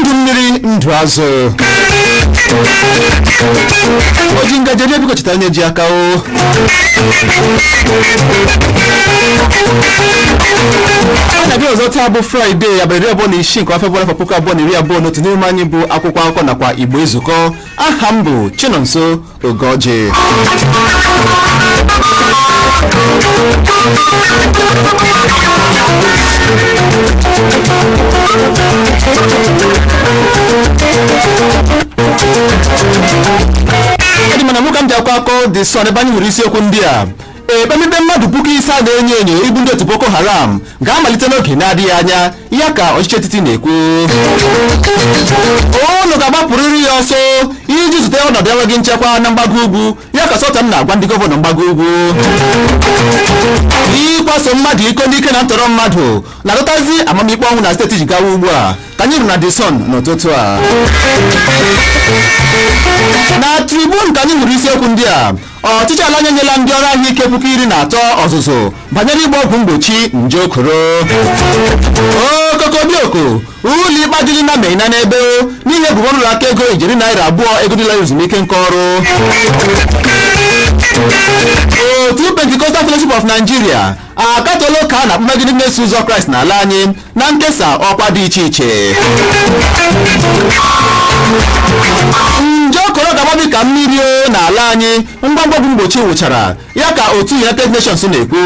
ndụ mmiri ndụ azụ oji ngaji eri biko cheta onye ji aka o a na-abịa ọzọ taa bụ fraịde abalị iri abụọ na isii nke ọnwa febụwarị afọ puku abụọ na iri abụọ na otu n'emume anyị bụ akwụkwọ akụkọ nakwa igbo ezukọ aha m bụ chinonso Ugoji. Eji m anya m hụ ka m ji akọ akọ The Sun ebe anyị hụrụ isiokwu ndị a Ekpemikpe mmadụ puku ise a na-enyo enyo ịbụ ndị otu Boko Haram ga-amalite n'oge na-adịghị anya ya ka ọchịchị etiti na-ekwu unu ga-agbapụrịrị ya ọsọ iji zute ọnọdụ enweghị nchekwa na mgbago ugwu ya ka Sultan na-agwa ndị gọvanọ mgbago ugwu ịkwaso mmadụ iko n'ike na ntọrọ mmadụ na-adọtazi amamikpe ọnwụ na steeti Jigawa ugbu a ka anyị hụrụ na The Sun n'ụtụtụ a na Tribune ka anyị hụrụ isiokwu ndị a ọchịchị ala anyị enyela ndị ọrụ ahụike puku iri na atọ ọzụzụ banyere ịgba ọgwụ mgbochi nje koro okokobioko ụlọ ikpe ajụla ịna maina n'ebe n'ihi ebubo nrụrụ aka ego ijeri naira abụọ ego ndị lara ezumike nka ọrụ otu Pentecostal Fellowship of Nigeria akatọọla oke a na-akpa megide ndị na-eso ụzọ kraịst n'ala anyị na nkesa ọkwa dị iche iche nje koro ga-agbabi ka mmiri o n'ala anyị ngwa ngwa ọgwụ mgbochi wụchara ya ka otu united nations na-ekwu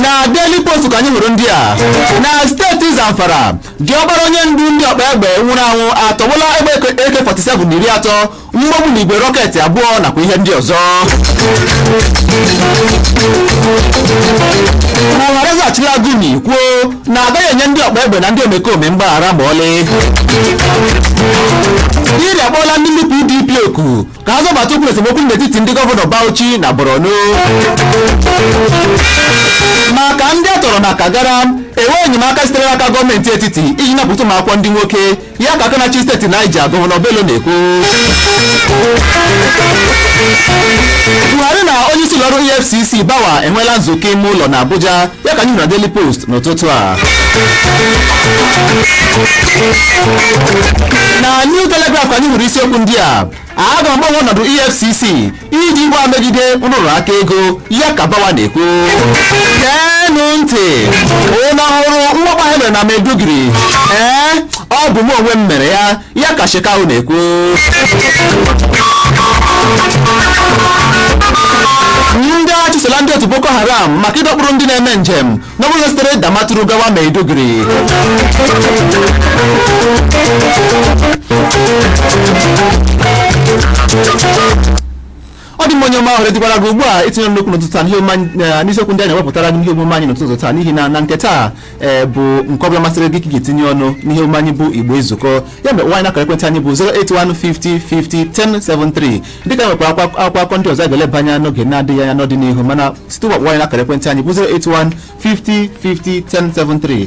na daily post ka anyị hụrụ ndị a na steeti zamfara diọkpara onye ndu ndị ọkpa egbe nwụrụ anwụ atọgbọla egbe AK47 iri atọ mgbọ ogbunigwe rọketị abụọ nakwa ihe ndị ọzọ Buhari asachila Gumi kwuo na agaghị enye ndị ọkpa egbe na ndị omekome mgbaghara ma ọlị Diri akpọọla ndị ndu PDP oku ka ha zọbata ụkwụ n'esemokwu n'etiti ndị gọvanọ Bauchi na Borno maka ndị a tọrọ na Kagara enweghị enyemaka sitere n'aka gọọmenti etiti iji napụta ụmụ akwụkwọ ndị nwoke ya ka aka na-achị steeti Niger gọvanọ Bello na-ekwu Buhari na onye isi ụlọọrụ EFCC Bawa enweela nzukọ ime ụlọ na Abuja ya ka anyị hụrụ na Daily Post n'ụtụtụ a na New Telegraph ka anyị hụrụ isiokwu ndị a a ga-agbanwe ọnọdụ EFCC iji gaa megide nrụrụ aka ego ya ka Bawa na-ekwu geenụ ntị unu ahụrụ mwakpo ahụ e mere na Maiduguri ee ọ bụ m onwe m mere ya ya ka shekau na-ekwu ndị agha achụsola ndị otu boko haram maka ịdọkpụrụ ndị na-eme njem n'ụgbọala sitere damaturu gawa maiduguri ọ dị mma onye ọma ohere dịkwara gị ugbu a itinye ọnụ n'okwu n'ụtụtụ taa n'ihe omume anyị- eh, n'isiokwu ndị anyị wepụtara gị n'ihe omume anyị n'ụtụtụ taa n'ihi na na nke taa eh, bụ nke ọbụla masịrị gị ka ị ga-etinye ọnụ n'ihe omume anyị bụ igbo ezukọọ ya mere nweta anyị n'akara ekwentị anyị bụ 08150501073 dịka anyị nwekwara akwa- akwụkwọ akụkọ ndị ọzọ anyị ga-eleba anya n'oge na-adịghị anya n'ọdịnihu mana site ugbu a nweta anyị n'akara ekwentị anyị bụ 08150501073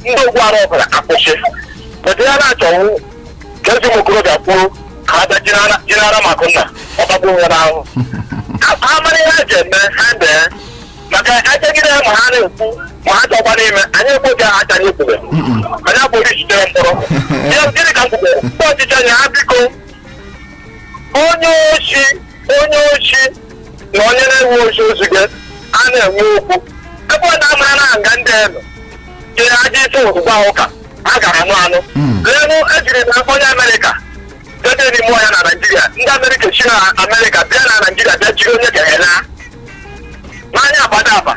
ndị ogbu ara ọbụla akwụsị bụta ya na-achọwu ka eze ụmụ okorobịa kwuru ka ha bịa jinara jinara maka na ọgbagbu nwa n'ahụ ha ha mara ihe ha ji eme ha dee maka ejegide ya ma ha na-ekwu ma ha chọkwa n'ime anyị ekweghị ha acha anyị kwube anyị abụghị jitere mkpọrọ Ya- gịnị ka m kwubere ndị ọchịchị anyị ha biko onye oshi onye oshi na onye na-enwe oshi ozu gị a na-enwe okwu ebe ọ na-amara na nga ndị elu jiri aja isi ozugbo ahụ ka a gara anụ anụ leenụ ejiri na onye amerịka debe n'ime ọhịa na naijiria ndị amerịka si na amerịka bịa na naijiria bịa jiri onye nke ha laa n'anya abada aba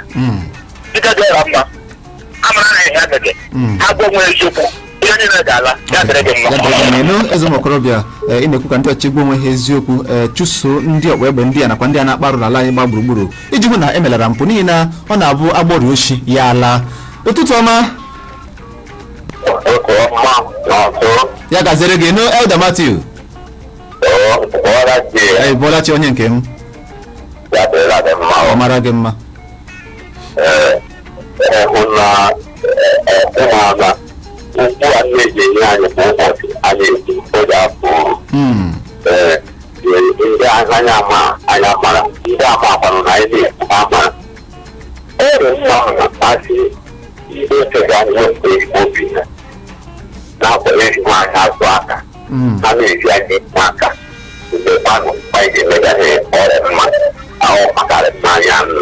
dịka dị ọra mma amara na ihe agaghị Mm. ha gwa onwe ha eziokwu ihe niile ga-ala ya dịrị gị mma elu eze ụmụ okorobịa eh, ị na-ekwu ka ndị ọchịchị gwa onwe ha eziokwu eh, chụso ndị ọkpa egbe ndị a nakwa ndị a na-akpa arụ n'ala anyị gba gburugburu iji hụ na emelara mpụ n'ihi na ọ na-abụ agbọrọ oshi ya ala ụtụtụ ọma Ụtụtụ ọma na ọtụ ya gaziere gị nnọọ elder matthew ọra ji anyị ị bọọla chi onye nke m ya dịrịla gị mma ọ mara gị mma hụ na ụmụala ugbu a na-eji enye anyị kwa ụbọchị anyị eji oge afọ Mm. ee ndị anya ama anya mara ndị ama akwanụ na anyị na-ekwu ama ere mma ahụ na mmasị ndị okenye anyị wepụta ezigbo obi ha na-akwanye ezigbo anyị azụ aka Mm. ha na-eji anyị ekwu aka mgbe kwanụ anyị ga-emega ha ọrịa mma ahụ makarị mmanya anụ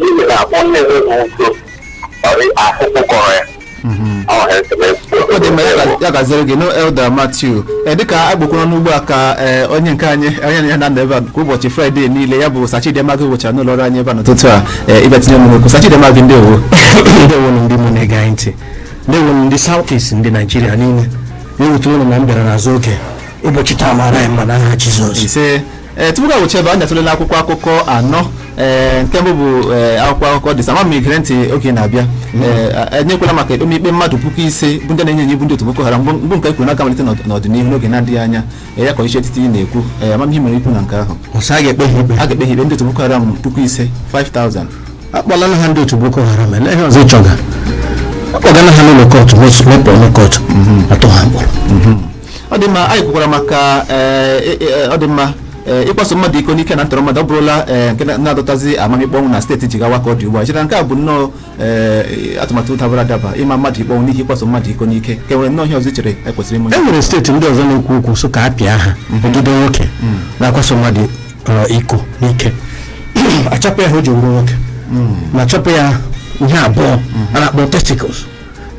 n'ihi na onye enweghị udo ọrị ahụhụ kọrọ ya Mhm. ọ ha esemokwu ọ dị mma ya ga- ya gaziere gị nnọọ elder matthew ee dịka ọ bụkwanụ ugbu a ka ee, onye nke anyị anyị na ya na-anọ ebe a kwa ụbọchị fraịde niile ya bụ sachidema gị wụchara n'ụlọ ọrụ anyị ebe a n'ụtụtụ a ee, ịbịa tinye ọnụ n'okwu sachidema gị ndewo ndewonu ndị ọma na-ege anyị ntị ndewonu ndị south east ndị naijiria niile ya ewutela unu na m bịara n'azụ oge ụbọchị taa mara anyị mma n'aha jizọs ise ee tupu ka wuchebe anyị atụlele akwụkwọ akụkọ anọ ee nke mbụ bụ ee, akwụkwọ akụkọ The Sun ma gere ntị oge na-abịa ee a- anyị ekwuola maka ikpe mmadụ puku ise bụ ndị a na-enyo enyo bụ ndị otu boko haram bụ bụ nke e kwuru na a ga-amalite n'ọd- n'ọdịnihu n'oge na-adịghị anya ee, ya ka ọchịchị etiti na-ekwu ee ama m ihe i nwere ikwu na nke ahụ ọsọ a ga-ekpe ha ikpe a ga-ekpe ha ikpe ndị otu boko haram puku ise 5000 akpọlala ha ndị otu boko haram ele ihe ọzọ ị chọga akpọgala ha n'ụlọ kọtụ mepụ ọnụ kọtụ a tụọ ha mkpọrọ ọ dị mma anyị kwukwara maka ee, e- e- ọ dị mma ee, ịkwaso mmadụ iko n'ike na ntọrọ mmadụ ọ bụrụla ee, nke na- na-adọtazi amamikpe ọnwụ na steeti jigawa ka ọ dị ugbu a i chere nke a bụ nnọọ ee, atụmatụ dabara adaba ịma mmadụ ikpe ọnwụ n'ihi ịkwaso mmadụ iko n'ike ka e nwere nnọọ ihe ọzọ i chere e kwesịrị ime e nwere steeti ndị ọzọ na-ekwu okwu sị ka a pịa ha e jide nwoke na-akwaso mmadụ ọ, iko n'ike achapụ ya ihe o ji wụrụ nwoke ma chapụ ya ihe abụọ a na-akpọ testicles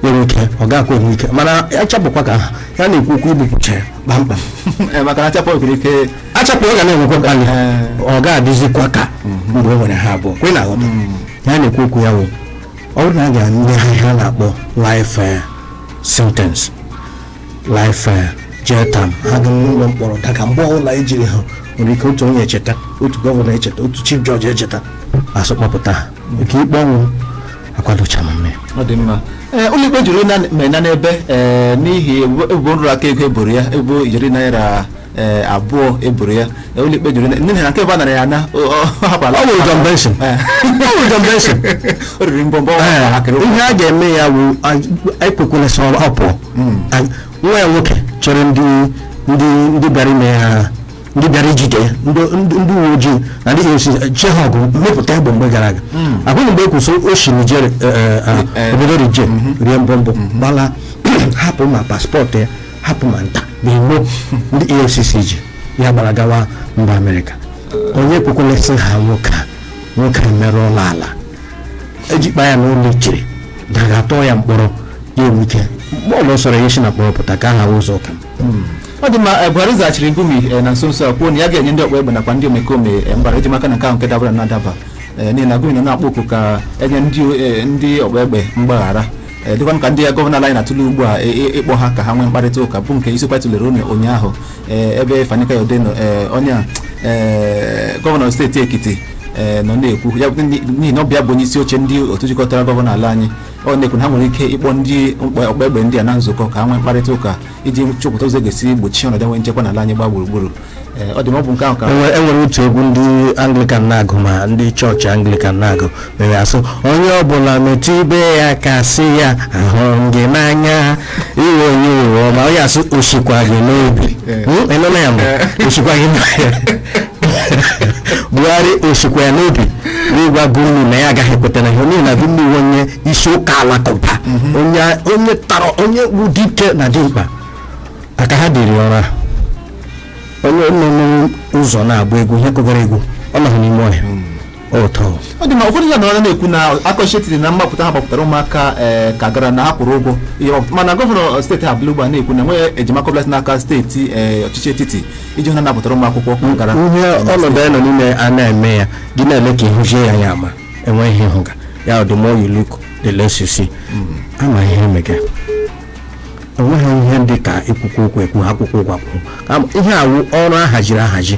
nwere ike ọ ga-akwa enwe ike mana achapụkwa ka ha na-ekwu okwu igbupụcha ya kpamkpam Eh, maka na achapụ nwere ike achapụ ọ ga na-enwekwa ka anyị ọ ga-adịzikwa ka mgbe o nwere ha abụọ kwe na aghọta ihe a na-ekwu okwu ya wụ ọ bụrụ na a ga-enye ha ihe a na-akpọ life eh, sentence life eh, jail term ha ga n'ụlọ mkpọrọ daga mgbe ọbụla ejiri ha nwere ike otu onye echeta otu gọvanọ echeta otu chief judge echeta a sị kpọpụta ha nke ikpe ọnwụ akwadocha m mme ọ dị mma ee ụlọikpe jụrụ ịna Maina n'ebe ee n'ihi ebubo ebubo nrụrụ aka ego e boro ya ebubo ijeri naira ee abụọ e boro ya Ee, ụlọikpe jụrụ ịna- n'ihi na nke ebe a nara ya na ọ ọ hapụla ọ nwere jump bail Ee. ọ nwere jump bail o riri mbọmbọ Ee, akịrị ihe a ga-eme ya bụ ekwekwele sị ọ pụọ A- nwa ya nwoke chọrọ ndị ndị ndị bịara ime ya ndị bịara ijide ya ndị ndị- ndị uwe ojii na ndị efcc chee ha ọgụ mepụta egbe mgbe gara aga ahụghị mgbe e kwụsị o si Niger eh, eh, ah, Eh. obodo Niger rie mbọmbọ gbala hapụ ma paspọtụ ya hapụ ma nta ma imo ndị efcc ji ya gbara gawa mba amerịka onye ekwekwele sị ha nwoke a nwoke a merụọla ala e jikwa ya n'ụlọ i chere na a ga-atụ ya mkpọrọ ya enwe ike mgbe ọbụla sọrọ ya o si na mkpọrọ pụta ka aha ụzọ ụka m ọ dị mma buhari zaghachiri gumi na nso nso a kwuo na ya ga-enye ndị ọkpa egbe nakwa ndị omekome mgbaghara iji maka na nke ahụ nke dabara nnọọ adaba n'ihi na gumi nọ na-akpọ oku ka e nye ndị ọkpa egbe mgbaghara dịkwa ka ndị ya gọvanọ ala anyị na-atụle ugbu a ịkpọ ha ka ha nwee mkparịta ụka bụ nke isiokwu a tụlere ụnụ ụnyaahụ ebe fani kayode onye gọvanọ steeti ekiti nọ na-ekwu n'ihi na ọ bụ ya bụ onye isi oche ndị otu jikọtara gọvanọ ala anyị ọ na-ekwu na ha nwere ike ịkpọ ndị ọkpa egbe ndị a na nzukọ ka ha nwee mkparịta ụka iji chọpụta ụzọ e ga-esi gbochie ọnọdụ enwe nchekwa n'ala anyị gbaa gburugburu Ee, ọ dị mma ọ bụ nke ahụ ka enwere enwere otu egwu ndị anglikan na-agụ ma ndị chọọchị anglikan na-agụ mere a sị onye ọbụla metụ ibe ya aka sị ya ahụrụ m gị n'anya iwe onye iwe ọma onye a sị o sikwa gị n'obi Ee. Hmm? Ị nụla ya mbụ o sikwa gị n'anya buhari o sikwa ya n'obi n'ịgwa Gumi na ya agaghị ekweta na ihe n'ihi na Gumi wụ onye isi ụka alakụba onye tara onye bụ dike na dimkpa aka ha dịrị ọrụ a onye nọ n'ụzọ na-agba egwu ihe kụgara egwu ọ nọghị n'ime ọhịa ọ dị mma ụfọdụ ya nọrọ na-ekwu na akọchetiri na mgbapụta ha gbapụtara ụmụaka ee Kagara na ha kwụrụ ụgwọ ihe mgbapụta mana gọvanọ steeti ahụ nọ ugbu a na-ekwu na enweghị enyemaka ọbụla si n'aka steeti ee ọchịchị etiti iji hụ na a napụtara ụmụ akwụkwọ Kagara ihe ọnọdụ anyị nọ n'ime a na-eme ya gị na-ele ka ị hụzie ya ya ama enweghị ihe ị hụga ya the more you look the less you see ama ihe emega enweghị ihe dị ka ikwukwu okwu ekwu akwụkwọ ụgwọ akwụkwọ Ama- ihe a wụ ọrụ a haziri ahazi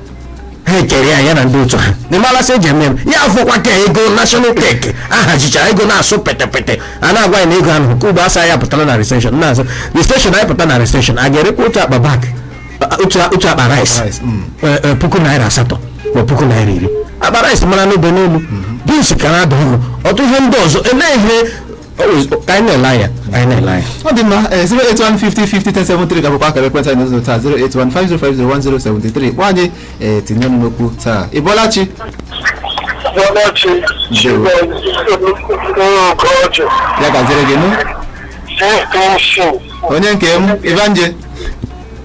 ha ekere ya ya na ndị otu ha n'ime alasị eji eme ya afọkwa ka ego national cake ahajichara ego na-asụ petepete a na-agwa ya na ego ahụ nke ugbu a sị anyị pụtara na recession na-azụ recession anyị pụta na recession a ga-erekwa otu akpa bag otu akpa rice mm. eh, eh, puku naira asatọ ma puku naira iri akpa rice mara n'obe n'elu beans ka na-ada ọnụ ọtụtụ ihe ndị ọzọ elee ihe ka anyị na-ele anya ka anyị na-ele anya ọ dị mma 08150501073 ga-abụkwa akara ekwentị anyị n'ụzọ taa 08150501073 kpọọ anyị ee tinye ọnụ n'okwu taa ị bọọla chi Ọdachi Ndewo. Ọkọchị ya gaziere gị nụ CPC onye nke m ịbanje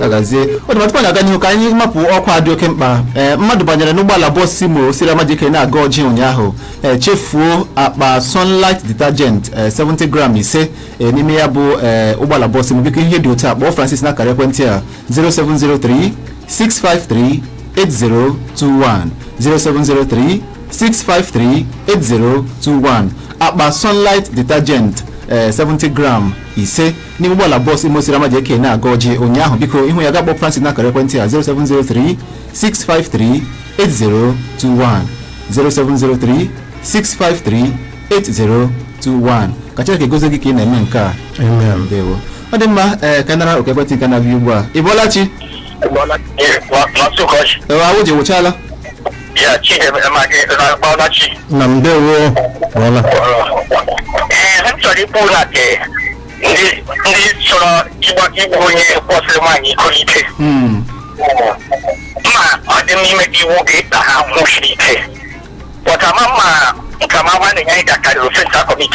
agazie ọ dị mma tupu anyị aga n'ihu ka anyị mapụ ọkwa a dị oke mkpa ee mmadụ banyere n'ụgbọala bọs Imo siri Ama JK na-aga Orji ụnyaahụ ee chefuo akpa sunlight detergent ee 70 gram ise ee n'ime ya bụ ee ụgbọala bọs Imo biko ihe dị otu a kpọọ francis n'akara ekwentị a 0703 653 8021 0703 653 8021 akpa sunlight detergent ee 70 gram ise n'ime ụgbọala bọọsụ Imo siri Ama JK na-aga Orji ụnyaahụ biko ị hụ ya ga-akpọ Francis n'akara ekwentị a 0703 653 8021 0703 653 8021 ka Chineke gozie gị ka ị na-eme nke a Amen. ndewo ọ dị mma ee ka a nara oku ekwentị nke na-abịa ugbu a ị bọọla chi Maazị ụkọchị. ewe awụ ji wụchala ya chi ema gị na-akpọla chi na m ndewo ọla ee m chọrọ ikwu na nke ndị ndị chọrọ ịgba igbu onye kwasịrị nwaanyị iko ike Mm. ma ọ dị n'ime gị iwu ga-ịta ha ahụhụ siri ike but ama ma nka ma nwanne ya ịga karịrị offence ha commit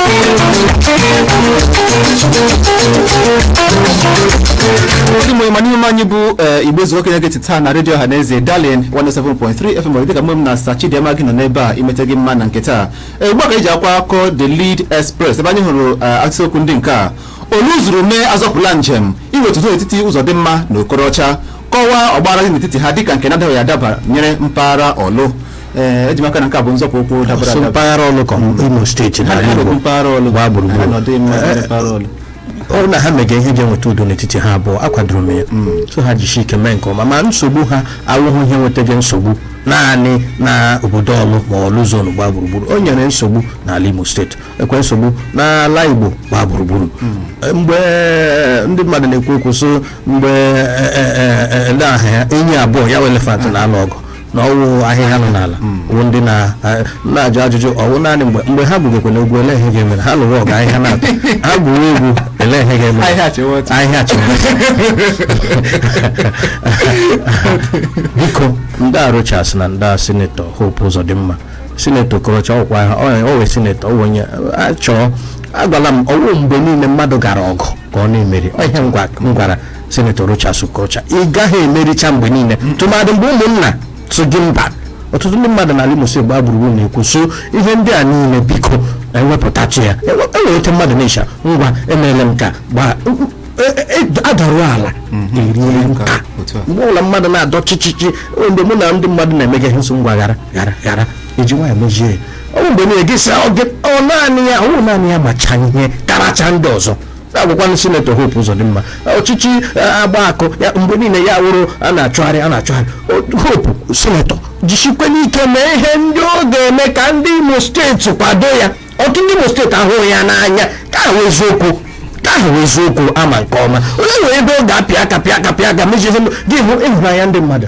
ndị mụrụ mana ihe omume anyị bụ eh, igbo ezuo ka ị na-egeti taa na redio ọhaneze darling 107.3 fm dịka mụ na sa chidịma gị nọ n'ebe a imete gị mma na nke taa Eh, ugbu a ka anyị ji akwụkwọ the lead express ebe anyị hụrụ eh, akụkọ okwu ndị nke a ọlụ zuru mee azọpụla njem iweta udo n'etiti uzodimma na okorocha kọwaa ọgbaghara dị n'etiti ha dịka nke na-adaghị adaba nyere mpaghara ọlụ ee eji m aka na nke a bụ nzọpụ ụkwụ dabara so adaba mpaghara ọlụ ka imo steeti ha na n'ala igbo mpaghara ọlụ gbaa gburugburu. ha nọdụ ime Eh, mpaghara ọlụ ọ na ha mega ihe ga-eweta udo n'etiti ha abụọ akwadoro m ya so ha jisi ike mee nke ọma ma nsogbu ha awụghị ihe na-ewetaga nsogbu naanị na obodo ọlụ ma ọlụ zonu gbaa gburugburu o nyere nsogbu n'ala imo steeti nyekwe nsogbu n'ala igbo gbaa gburugburu mgbe ndị mmadụ na-ekwu okwu so mgbe eh, eh, eh, eh, ndị aha ya enyi abụọ ya wụ elefant na-alụ ọgụ na ọwụ ahịhịa nọ n'ala wụ ndị na- a- na-ajụ ajụjụ ọwụ naanị mgbe mgbe ha gwugekwe na egwu ele ihe ga-emere ha lụrụ ọgụ ahịhịa na-atọ ha gwuwe egwu ele ihe ga-emere Ahịhịa chịwa ọchị. ahịhịa chịwa ọchị. biko ndị a rochas na ndị a sinetọ hope uzodimma sinetọ okorocha ọkwa ha wụ sinetọ ọ wụ onye a chọọ agwala m ọwụ mgbe niile mmadụ gara ọgụ ka ọ na-emeri ọ ihe m gwa- m gwara Senator Rochas Okorocha ị gaghị emericha mgbe niile tụmadị mgbe ụmụnna sị gị mba ọtụtụ ndị mmadụ n'ala Imo steeti gbaa gburugburu na-ekwu so ihe ndị a niile biko ewepụtatụ ya enwere otu mmadụ na-echa ngwa emeela m ka gbaa e- e- e- adarụ ala erie nka otu a. mgbe ọbụla mmadụ na-adọ chichichi o, mgbe mụ na ndị mmadụ na-emega ihe nso ngwa ghara ghara ghara eji nwayọ mezie ya ọ bụ mgbe niile gị sị ọ gị- ọ naanị ya ọ bụ naanị ya macha ihe karacha ndị ọzọ agwakwanụ sinetọ Hope Uzodimma ọchịchị eh, agba akụ ya mgbe niile ya wụrụ a na-achụgharị a na-achụgharị O- Hope sinetọ jisikwanụ ike mee ihe ndị ọ ga-eme ka ndị Imo steeti kwado ya ọtụtụ ndị Imo steeti ahụghị ya n'anya ka ahụ eziokwu ka ahụ eziokwu ama nke ọma onye nwere ebe ọ ga-apịa aka pịa aka pịa aka mezie ihe ndị- gị hụ ịhụnanya ndị mmadụ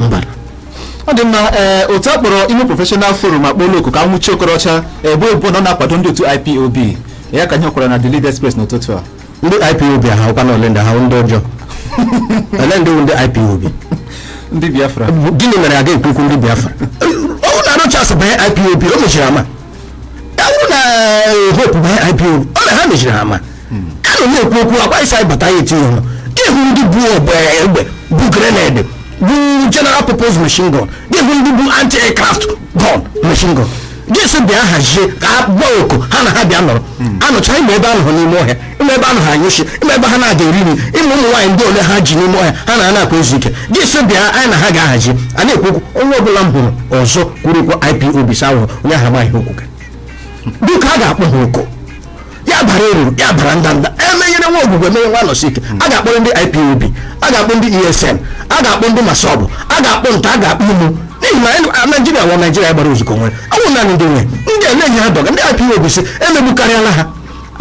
mba ọ dị mma ee otu a kpọrọ imo professional forum akpọla oku ka e nwụchie okorocha ebubo na ọ na-akwado ndị otu ipob ya ka a hụkwara na the lead express n'ụtụtụ a ndị ipob ha wụkwanụ ole ndị ha wụ ndị ọjọọ ole ndị wụ ndị ipob ndị biafra gịnị mere a ga-ekwu okwu ndị biafra ọwụ na rochas banye ipob o mechiri ama ya wụrụ na eh, hope banye ipob ọ na ha mechiri ama ka nọ na-ekwu okwu akwa ịsa ịbata ya etinye ọnụ ịhụ ndị bu ogbe egbe bu grenade bu general purpose machine gun ịhụ ndị bu anti aircraft gun machine gun jesi bịa hazie ka a gba oku ha na ha bịa nọrọ anụcha ịma ebe ha nọrọ n'ime ọhịa ịma ebe ha nọrọ anyụ nshi ịma ebe ha na-aga eri nri ịma ụmụ nwaanyị ndị ole ha ji n'ime ọhịa ha na ha na-akwa ezu ike jesi bịa anyị na ha ga-ahazi a na-ekwu okwu onye ọbụla m hụrụ ọzọ kwuru okwu ipob sa ahụhụ onye ahụ amaghị okwu gị dịka a ga-akpọ ha oku ya bara eruru ya bara ndanda emenyere nwa ogwugwu emee nwa anọsike a ga-akpọrọ ndị ipob a ga-akpọ ndị esn a ga-akpọ ndị massob a ga-akpọ nta a ga-akpọ imo n'ihi na anyị- a- naijiria wụ naijiria gbara ozukọ nwere ọ wụ naanị ndị nwe ndị ele ihe ha dọga ndị ipob sị emegbukarịala ha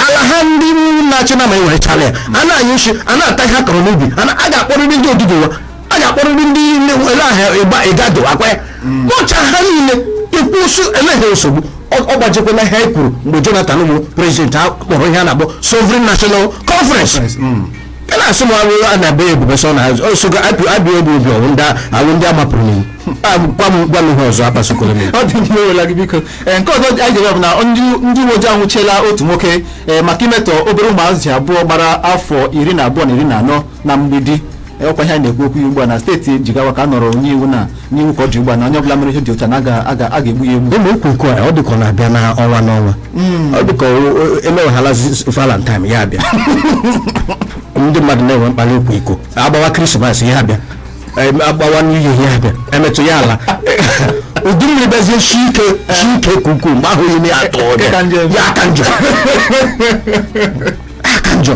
ala ha ndị na-achị nama ewerechala ya a na-anyụ nshi a na-ata ihe ha kọrọ n'ubi a na- a ga-akpọrịrị ndị oduduwa a ga-akpọrịrị ndị niile ele aha ịgba ịgado akwa ya kpọcha ha niile ekwuo sị ele ihe nsogbu ọ ọ gbajikwala ihe anyị kwuru mgbe jonathan bụ prezidenti a kpọrọ ihe a na-akpọ sovereign national conference a na-asị m arụ a na-abụ ya ebube sọ na azụ osogo abịa abịa obi obi ọwụ ndị awụ ndị a mapụrụ n'iwu A, gwa m gwa m ihe ọzọ akpasukwere m ya. ọ dị mma ewela gị biko ee nke ọzọ anyị ga-ewere bụ na ndị ndị uwe ojii anwụchiela otu nwoke ee maka imetọ obere ụmụazị abụọ gbara afọ iri na abụọ na iri na anọ na mgbidi ọkwa ihe a na-ekwu okwu ya ugbu a na steeti jigawa ka a nọrọ nye iwu na n'iwu ka ọ dị ugbu a na onye ọbụla mere ihe dị otu a na aga- aga- a ga-egbu ya egbu ụmụ okwu iko ọ dịka ọ na-abịa n'ọnwa n'ọnwa ọ dịka emeweghala valentine ya abịa ndị mmadụ na-enwe mkpali okwu iko agbawa krismas ya abịa em, agbawa new year abịa emetụ ya ala udu mmiri bezie shi ike shi ike ka ukwuu mgbe ahụ ime ya atọ Nke ka njọ. ya aka njọ aka njọ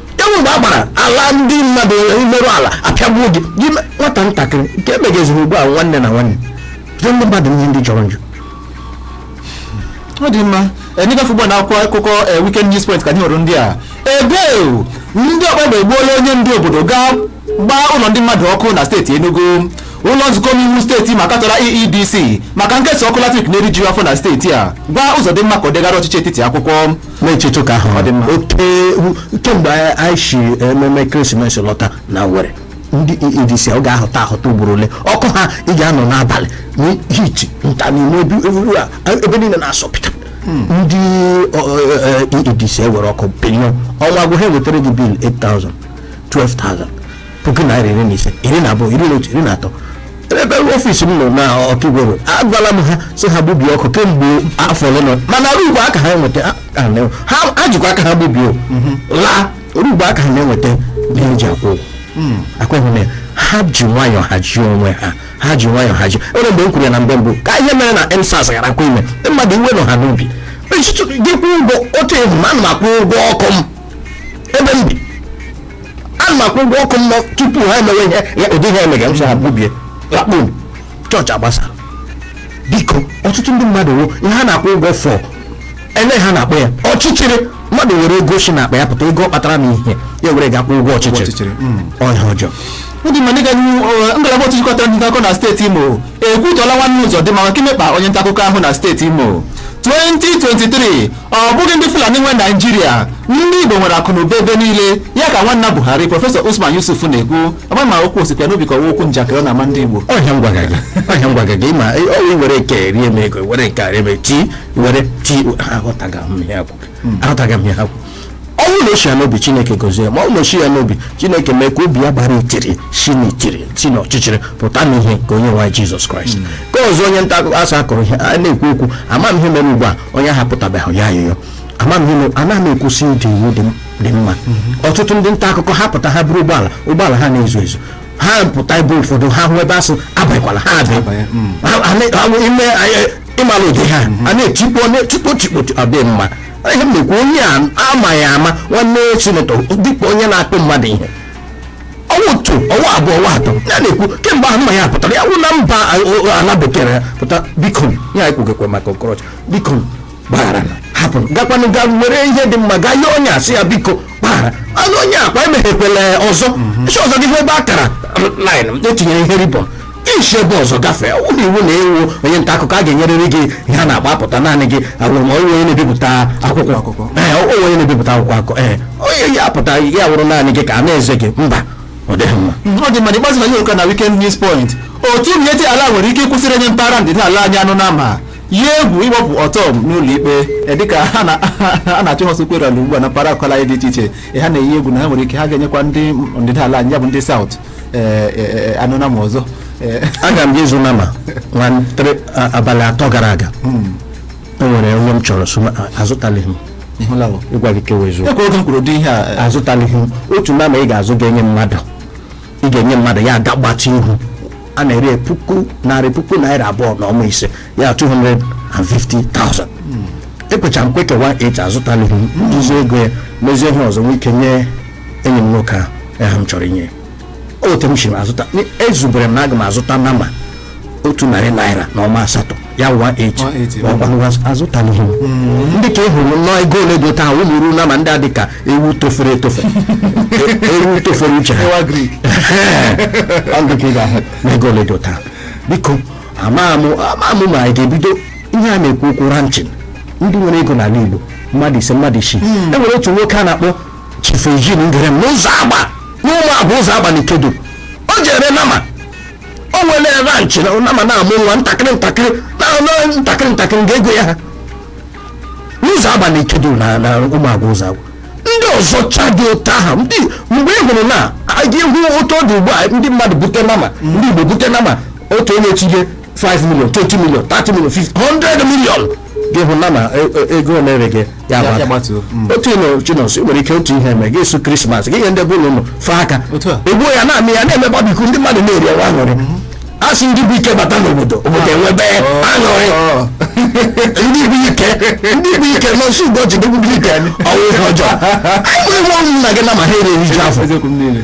e nwe mgbe a gbara ala ndị mmadụ i merụ ala apịagbuo gị gị me- nwata ntakịrị nke emegeziri ugbu a nwanne na nwanne jụọ ndị mmadụ ihe ndị jọrọ njọ ọ dị mma anyị gafee ugbu a na akwụkwọ akụkọ eh, weekend news point ka anyị hụrụ ndị a ebe ndị ọkpa egbe egbuola onye ndu obodo gaa gbaa ụlọ ndị mmadụ ọkụ na steeti Enugu ụlọ nzukọ omeiwu steeti Imo katọrọ EEDC maka nkesa ọkụ latrik na-erijughị afọ na steeti a gwa Uzọdịmma ka o degara ọchịchị etiti akwụkwọ na-echeta ụka ahụ oke kemgbe anyị si ememe ekeresimesi lọta na Owerri ndị EEDC ọ ga-ahụta ahụta ugboro ole ọkụ ha ị ga-anọ n'abalị n'heat nta n'ime ebe niile na-asọpụta ndị EEDC e, e, e were ọkụ bilion ọnwa gwụ ha ewetara gị bil 8000 12,000 puku naira iri na ise iri na abụọ iri na otu iri na atọ ebe ọfisi m nọ na ọkigwe road agwala m ha sị ha gbubie ọkụ kemgbe afọ ole na mana ruo ugbu a aka ha eweta ha- ha na- ha ha jikwa aka ha gbubie o. laa ruo ugbu a aka ha na-eweta ihe eji akwụ ụgwọ akweghị m ya ha ji nwayọọ hazie onwe ha ha ji nwayọọ hazie onwe mgbe m kwuru ya na mgbe mbụ ka ihe mere na endsars gharakwa ime mmadụ iwe nọ ha n'obi echiche gị kwụ ụgwọ otu ehu ma ana m akwụ ụgwọ ọkụ m ebe m bi ana m akwụ ụgwọ ọkụ m tupu ha emewe ihe ya ụdị ihe emega m sị ha gbubie lakpo m chọọchị agbasa biko ọtụtụ ndị mmadụ wo ihe ha na-akwụ ụgwọ for ihe ha na-akpọ ya ọchịchịrị mmadụ were ego si n'akpa ya pụta ego ọ kpatara na ihe ya were ga-akwụ ụgwọ ọchịchịrị ọchịchịrị, mm. ọhịa ọjọọ ọ dị mma dịka n'ihu ọ, ngalaba otu jikọtara ndị ntaakụkọ na steeti imo ekwutọọla nwanne ụzọdịmma maka imekpa onye ntaakụkọ ahụ na steeti imo 2023 ọ bụghị ndị fulani nwe naijiria ndị igbo nwere akụnụba ebe niile ya ka nwanna buhari prọfesọ usman yusuf na-ekwu ama m ma okwu o sikwa ya n'obi ka ọ wụ okwu njakịrị ọ na-ama ndị igbo ọ ihe a m gwaga gị ọ ihe a m gwaga gị ma ọ wụ were nke rie m ego were nke a rie m ti were ti aghọtaghị m ihe akwụ aghọtaghị m ihe akwụ ọ wụ na o shi ya n'obi chineke gọzie ma ọ na o shighị ya n'obi chineke mee ka obi ya gbara itiri si n'itiri si n'ọchịchịrị pụta n'ihe nke onye nwe anyị jizọs kraịst nke ọzọ onye nta akụkọ a sị a kụrụ ihe a na-ekwu okwu ama m ihe mere ugbu a onye ahụ apụtabeghị yọọ ayịyọ ama m ihe mere anaghị m ekwu sị ịda iwu dị m- dị mma ọtụtụ ndị nta akụkọ ha pụta ha bụrụ ụgbọala ụgbọala a na-eze eze ha pụta ebe ụfọdụ ha hụ ebe a sị abịakwala ha abịa abanye, mm. Ha- ha na- ha- ime anyị- ị mara ụdị ha a na-etikpo na-etikpo tikpo ọ dị mma ihe m na-ekwu onye a amaghị ama nwanne sinetọ dịka onye na-akụ mmadụ ihe ọnwa otu ọnwa abụọ ọnwa atọ ya na-ekwu kemgbe ahụ mma ya pụtara ya wụ na mba ala bekee ya pụta biko ya ekwugekwe maka okorocha biko gbaghara na hapụ gakwanụ ga were ihe dị mma gaa nye onye a sị ya biko gbagharanụ onye a kwa emeghekwele ọzọ isi ọzọ gị hụ ebe a kara line e tinyere ihe ribọn i si ebe ọzọ gafee ụlọ iwu na ị wụ onye nta akụkọ a ga-enyerịrị gị ihe a na-agba apụta naanị gị awụrụ ma onye onye na-ebipụta akwụkwọ akụkọ ee onye onye na-ebipụta akwụkwọ akụkọ ee onye ya apụta ya wụrụ naanị gị ka a na-eze gị mba ọ dịghị mma mm, ọ dị mma n'ikpeazụ na nyocha na weekend news point otu miyetti allah nwere ike ịkwụsị irenye mpaghara ndịda ala anyị anụ nama yie egwu ịkpụpụ ortom n'ụlọ ikpe e, dịka ha na-achụ ha ọsọ ugbu a na mpaghara akụkọ dị iche iche e, ha na-eyi egwu na ha nwere ike ha agaghị enyekwa ndị ndịda ala anyị ya bụ ndị saụt ee, ee, anụ nama ọzọ ee, aga m je ịzụ nama nwa ntere a- abalị atọ gara aga o nwere onye m chọrọ so ma- a- azụtalighị m ị hụla o ịgwa gị kewe eziokwu ekwe oge m kwuru ụdị ihe a ee, azụtalighị m otu nama ị ga-azụ ga-enye mmadụ ị ga-enye mmadụ ya aga gbatị ihu a na-ere puku narị puku narị abụọ na ọma ise ya 250,000 ekwecha m kwe ka 18 azụtalighị m jizi ego ya mezie ihe ọzọ nwee ike nye enyi m nwoke ahụ ya ha m chọrọ inye ya. o otu m si azụta ezubere m na aga m azụta nama otu narị naira na ọma asatọ ya wụ 180. ma ọ gwanụ gwa azụtalighị m dị ka ị hụrụ nnọọ ego ole dị taa ụmụ ruo nama ndị a dị ka ewu tofere etofe E- ewu tofere uche ha ewu agric. ọ dị ka ị ga-ahụ na ego ole dị taa biko ama m ama m ma anyị ga-ebido ihe a na-ekwu okwu ranching ndị nwere ego n'ala Igbo mmadụ ise mmadụ isii e nwere otu nwoke a na-akpọ Chief Eugene Ngerem n'Uzoagba n'Umuagwu Uzoagba na Ikeduru o jere nama o nwere ranch na nama na-amụ nwa ntakịrị ntakịrị na na- ntakịrị ntakịrị ga-ego ya ha n'Uzoagba na Ikeduru na na Umuagwu Uzoagba ndị ọzọ chadị otu aha ndị mgbe ị hụrụ na a ga-ahụ otu ọ dị ugbu a ndị mmadụ bute nama ndị Igbo bute nama otu onye tinye 5 million 20 million 30 million 50 100 million gị hụ na na e- e- ego ole ere gị ya Ya- ya gbatuo. gbatuo otu ị nụ Chinonso ị nwere ike otu ihe eme gị su Christmas gị nye ndị bụ ụlọ ụlọ fee aka Otu a. egbuo ya na-amị ya na-eme barbecue ndị mmadụ na-eri ọwa aṅụrị a sị ndị bụ ike bata n'obodo obodo enwebe aṅụrị ndị bụ ike ndị bụ ike Nonso Ugorji ndị bụ ike ọ wụ ihe ọjọọ anyị nwere nwa ụmụnna gị nama ha eriju afọ eziokwu m niile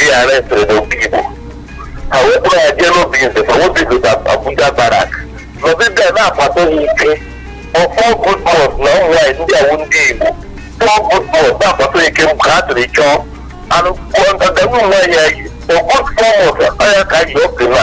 ihe arrestịrị n'Obigbo ha wee kpụrụ ya jee n'Obinze ma n'Obinze na Abuja barrack nọdịda na-akwado ha ike for four good months na ụmụ nwaanyị ndị a wụ ndị Igbo four good months na-akwado ike m ka ha tụrụ chọọ anụ kwụọ ndanda ụmụ nwaanyị ya yi for good four months ọ ya ka ji ọpị na